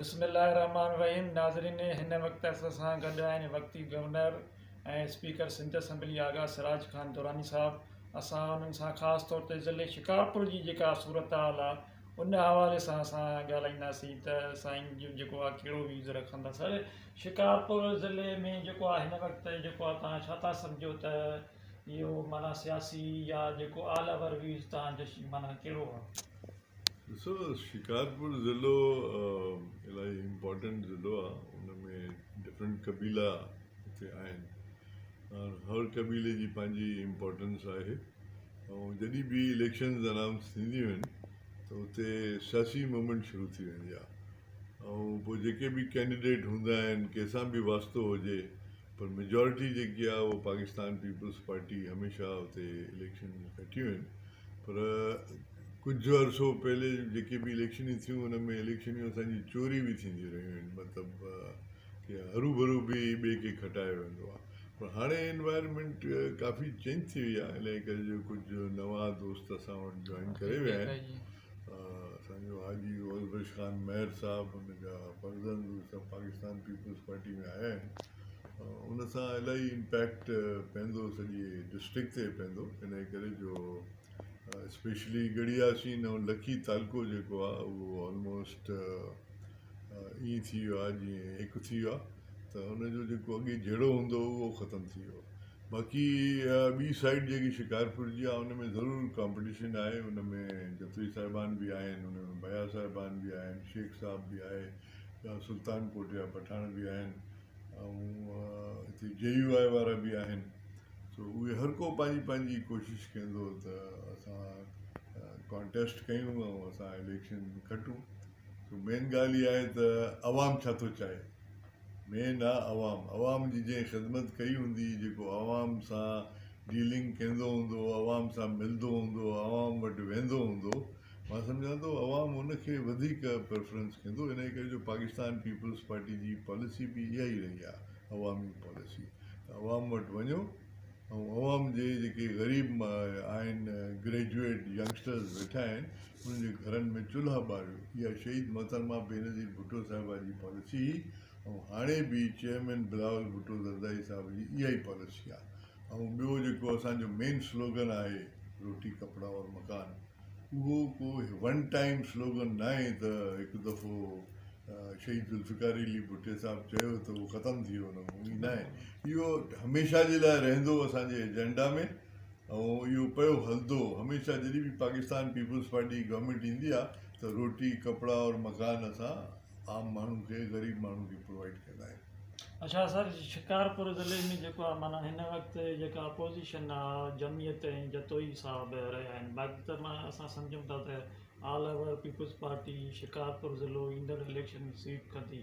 بسم الله الرحمٰن الرحيم ناظرين هن وقت اسان سان گڏ آهن وقتي governor ۽ speaker Sindh assembly Agha Siraj Khan Durrani Sahib اسان انهن سان خاص طور تي ضلعي شڪارپور جي جيڪا صورتحال آهي ان حوالي سان اسان ڳالهائينداسين ته سائين جو جيڪو آهي ڪهڙو ويوز رکندا سر شڪارپور ضلعي ۾ جيڪو آهي هن وقت جيڪو آهي تان ڇا ٿا سمجهو ته اهو معنيٰ سياسي يا جيڪو آل اوور ويوز تان جو معنيٰ ڪهڙو آهي ڏسو شڪارپور ضلعو الاهي امپورٽنٽ ضلعو آهي ان ۾ ڊفرنٽ قبيلا هتي آهن ۽ هر قبيلي جي پنهنجي امپورٽنس آهي ۽ جڏهن به اليڪشنز انائونس ٿينديون آهن ته اتي سياسي موومينٽ شروع ٿي ويندي آهي ۽ پوء جيڪي به ڪينڊيڊيٽ هوندا آهن ڪنهن سان به واسطو هجي پر ميجارٽي جيڪي آهي اهو پاڪستان پيپلز پارٽي هميشه اتي اليڪشن کٽيون آهن پر ڪجهه عرصو پهلي جيڪي به اليڪشنيون ٿيون ان ۾ اليڪشنيون اسان جي چوري به ٿينديون رهيون آهن مطلب ڪي هرو ڀرو به ٻئي کي کٽايو ويندو آهي پر هاڻي انوائرمينٽ ڪافي چينج ٿي وئي آهي انهي ڪري جو ڪجهه نوان دوست اسان وٽ جوائن ڪري ويا آهن اسان جو حاجي روزبخش خان مهر صاحب ان جا فرزند اهي سڀ پاڪستان پيپلز پارٽي ۾ آيا آهن ان سان الاهي امپيڪٽ پوندو سڄي ڊسٽرڪٽ تي پوندو انهي ڪري جو اسپيشلي ڳڙهي آسين ۽ لکي تعلقو جيڪو آهي اهو آلموسٽ ائين ٿي ويو آهي جيئن هڪ ٿي ويو آهي ته ان جو جيڪو اڳي جهيڙو هوندو هو اهو ختم ٿي ويو باقي اها ٻي سائيڊ جيڪي شڪارپور جي آهي ان ۾ ضرور ڪامپٽيشن آهي ان ۾ جتوئي صاحبان به آهن ان ۾ بيا صاحبان به آهن شيخ صاحب به آهي يا سلطان ڪوٽ جا پٺاڻ به آهن ۽ هتي جي يو آء وارا به آهن سو اهي هر ڪو پنهنجي پنهنجي ڪوشش ڪندو ته اسان ڪانٽيسٽ ڪيون ۽ اسان اليڪشن کٽون سو مين ڳالهه اها آهي ته عوام ڇا ٿو چاهي؟ مين آ عوام. عوام جي جنهن خدمت ڪئي هوندي، جيڪو عوام سان ڊيلنگ ڪيندو هوندو، عوام سان ملندو هوندو، عوام وٽ ويندو هوندو، مان سمجهان ٿو عوام ان کي وڌيڪ پريفرنس ڪندو، انهي ڪري جو پاڪستان پيپلز پارٽي جي پاليسي به اها ئي رهي آهي عوامي پاليسي ته عوام وٽ وڃو، ۽ عوام جي جيڪي غريب آهن گريجوئيٽ ينگسٽرز ويٺا آهن انهن جي گهرن ۾ چلها ٻاريو اها شهيد محترمه بينظير ڀٽو صاحبه جي پاليسي هئي ۽ هاڻي به چيئرمين بلاول ڀٽو زرداري صاحب جي اها ئي پاليسي آهي ۽ ٻيو جيڪو اسان جو مين سلوگن آهي روٽي ڪپڙا اور مڪان اهو ڪو ون ٽائيم سلوگن ناهي ته هڪ دفعو شهيد ذوالفقار علي ڀٽي صاحب چيو ته اهو ختم ٿي ويو نه اهو ناهي اهو هميشه جي لاء رهندو اسان جي ايجنڊا ۾ ۽ اهو پيو هلندو هميشه جڏهن به پاڪستان پيپلز پارٽي جي گورنمينٽ ايندي آهي ته روٽي ڪپڙا اور مڪان اسان عام ماڻهو کي غريب ماڻهو کي پرووائيڊ ڪندا آهيون. اچا سر شڪارپور ضلعي ۾ جيڪو آهي معنيٰ هن وقت جيڪا اپوزيشن آهي جمعيت ۽ جتوئي صاحب رهيا آهن باقي ته معنيٰ اسان سمجهون ٿا ته آل اوور پيپلز پارٽي شڪارپور ضلعو ايندڙ اليڪشن ۾ سويپ ڪندي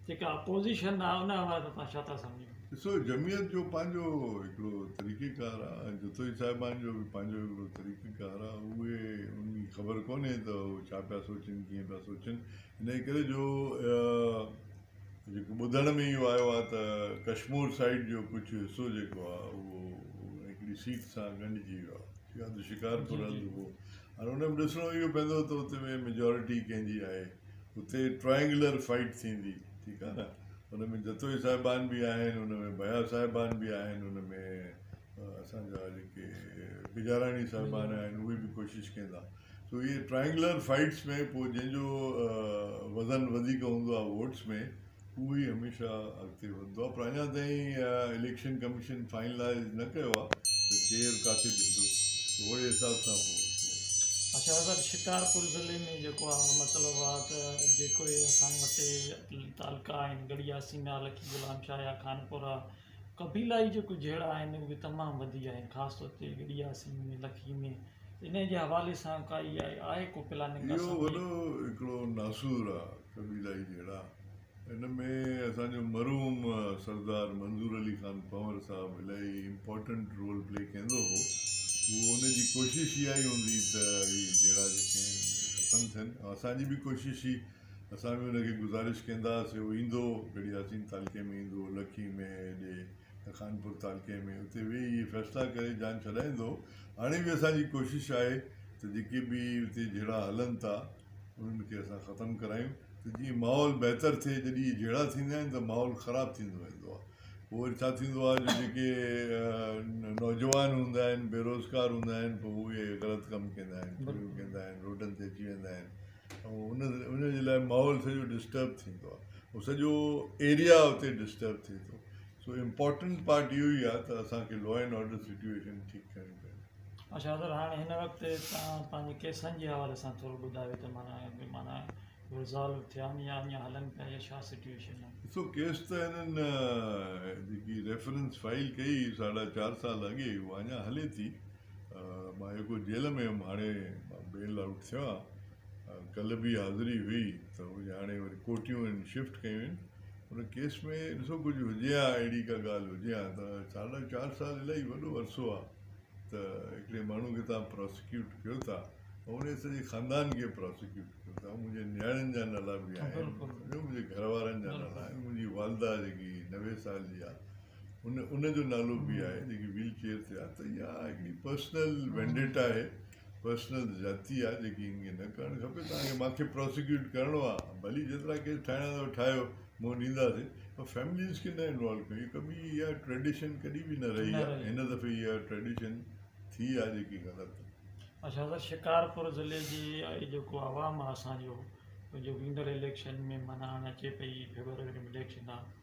جيڪا اپوزيشن آ ان حوالي سان توهان ڇا ٿا سمجهو؟ ڏسو جمعيت جو پنهنجو هڪڙو طريقي ڪار آ ۽ جتوئي صاحبان جو به پنهنجو هڪڙو طريقي ڪار آ اهي انهن کي خبر ڪونهي ته هو ڇا پيا سوچين ڪيئن پيا سوچين انهي ڪري جو جيڪو ٻڌڻ ۾ اهو آيو آ ته ڪشمور سائيڊ جو ڪجهه حصو جيڪو آ اهو هڪڙي سيٽ سان ڳنڍجي ويو آ يا ته شڪارپور هنڌ هو هاڻي ان ۾ ڏسڻو اهو پوندو ته اتي ميجارٽي ڪنهن جي آهي اتي ٽرائينگلر فائيٽ ٿيندي ٺيڪ آ نه ان ۾ جتوئي صاحبان به آهن ان ۾ بيا صاحبان به آهن ان ۾ اسانجا جيڪي بجاراڻي صاحبان آهن اهي به ڪوشش ڪندا سو اهي ٽرائينگلر فائيٽس ۾ پوء جنهن جو وزن وڌيڪ هوندو آ ووٽس ۾ اهو ئي هميشه اڳتي وڌندو آهي پر اڃا تائين اليڪشن ڪميشن فائنلائز نه ڪيو آهي ته ڪير ڪاٿي بيهندو ته اهڙي حساب سان پوء اچا سر شڪارپور ضلعي ۾ جيڪو آهي مطلب آهي ته جيڪو هي اسان وٽي تعلقا آهن گڙيا سينا لڪي غلام شاهه يا خانپورا قبيلائي جيڪو جهيڙا آهن اهي به تمام وڌي ويا آهن خاص طور تي گڙيا سين ۾ لڪي ۾ ان جي حوالي سان ڪائي آهي ڪو پلاننگ اهو وڏو هڪڙو ناسور آهي قبيلا ئي جهيڙا ان ۾ اسان جو مرحوم سردار منظور علي خان پنور صاحب الائي امپارٽنٽ رول پلي ڪيندو هو اهو ان جي ڪوشش اها ئي هوندي ته هي جهيڙا جيڪي آهن ختم ٿين ۽ اسان جي به ڪوشش هئي اسان به ان کي گذارش ڪيندا هئاسين هو ايندو گڙهي ياسين تعلقي ۾ ايندو لکي ۾ هيڏي خانپور تعلقي ۾ اتي ويهي هي فيصلا ڪري جان ڇڏائيندو هاڻي به اسان جي ڪوشش آهي ته جيڪي به اتي جهيڙا هلن ٿا انهن کي اسان ختم ڪرايون ته جيئن ماحول بهتر ٿئي جڏهن اهي جهيڙا ٿيندا آهن ته ماحول خراب ٿيندو ويندو آهي پوء وري ڇا ٿيندو آهي جو جيڪي نوجوان هوندا آهن بي روزگار هوندا آهن پوء اهي غلط ڪم ڪندا آهن چوريون ڪندا آهن روڊن تي اچي ويندا آهن ۽ ان ان جي لاء ماحول سڄو ڊسٽرب ٿيندو آهي هو سڄو ايريا اتي ڊسٽرب ٿئي ٿو سو امپورٽنٽ پارٽ اهو ئي آهي ته اسانکي لا اينڊ آرڊر سچويشن ٺيڪ ڪرڻي پوندي اچا سر هاڻي هن وقت توهان پنهنجي ڪيسن جي حوالي سان ٿورو ٻڌايو ته معنيٰ ڪي معنيٰ ريزالو ٿيا آهن يا اڃان هلن پيا يا ڇا سٽيوئيشن آهي؟ ڏسو ڪيس ته هنن جيڪي ريفرنس فائل ڪئي ساڍا چار سال اڳي اها اڃان هلي ٿي مان يڪو جيل ۾ هيم هاڻي مان بيل آئوٽ ٿيو آهيان ڪلهه به حاضري هئي ته اهي هاڻي وري ڪوٽيون هن شفٽ ڪيون آهن ان ڪيس ۾ ڏسو ڪجهه هجي ها اهڙي ڪا ڳالهه هجي ها ته ساڍا چار سال الاهي وڏو عرصو آهي ته هڪڙي ماڻهو کي توهان پراسيڪيوٽ ڪيو ٿا ۽ انهي سڄي خاندان کي پراسيڪيوٽ ڪيو ٿا منهنجي نياڻين جا نالا به آهن ٻيو منهنجي گهر وارن جا نالا آهن منهنجي والده جيڪي نوي سال جي آهي ان ان جو نالو به آهي جيڪي ويل چيئر تي آهي ته اها هڪڙي پرسنل وينڊيٽا آهي پرسنل زيادتي آ جيڪي هن کي نه ڪرڻ کپي توهان کي مان کي پراسيڪيوٽ ڪرڻو آ ڀلي جيترا ڪيس ٺاهڻا اٿو ٺاهيو منهن ڏينداسين پر فيمليز کي نه انوالو ڪيو هي ڪبي اها ٽريڊيشن ڪڏي به نه رهي آ هن دفعي اها ٽريڊيشن ٿي آ جيڪي غلط اچا سر شڪارپور ضلعي جي جيڪو عوام آ اسان جو جو ويندڙ اليڪشن ۾ مانا هاڻي اچي پئي فيبروري ۾ اليڪشن آ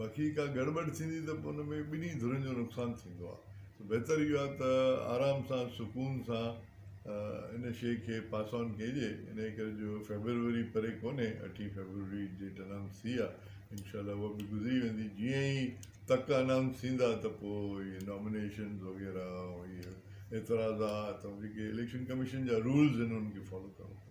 باقي ڪا گڙٻڙ ٿيندي ته پوء ان ۾ ٻنهي ڌرين جو نقصان ٿيندو آهي ته بهتر اهو آهي ته آرام سان سڪون سان ان شيء کي پاس آن ڪجي انهي ڪري جو فيبروري پري ڪونهي اٺين فيبروري ڊيٽ انائونس ٿي آهي انشاء الله اها به گذري ويندي جيئن ئي تڪ انائونس ٿيندا ته پوء اهي نامينيشنز وغيره اهي اعتراضات ۽ جيڪي اليڪشن ڪميشن جا رولز آهن انهن کي فالو ڪرڻو پوندو.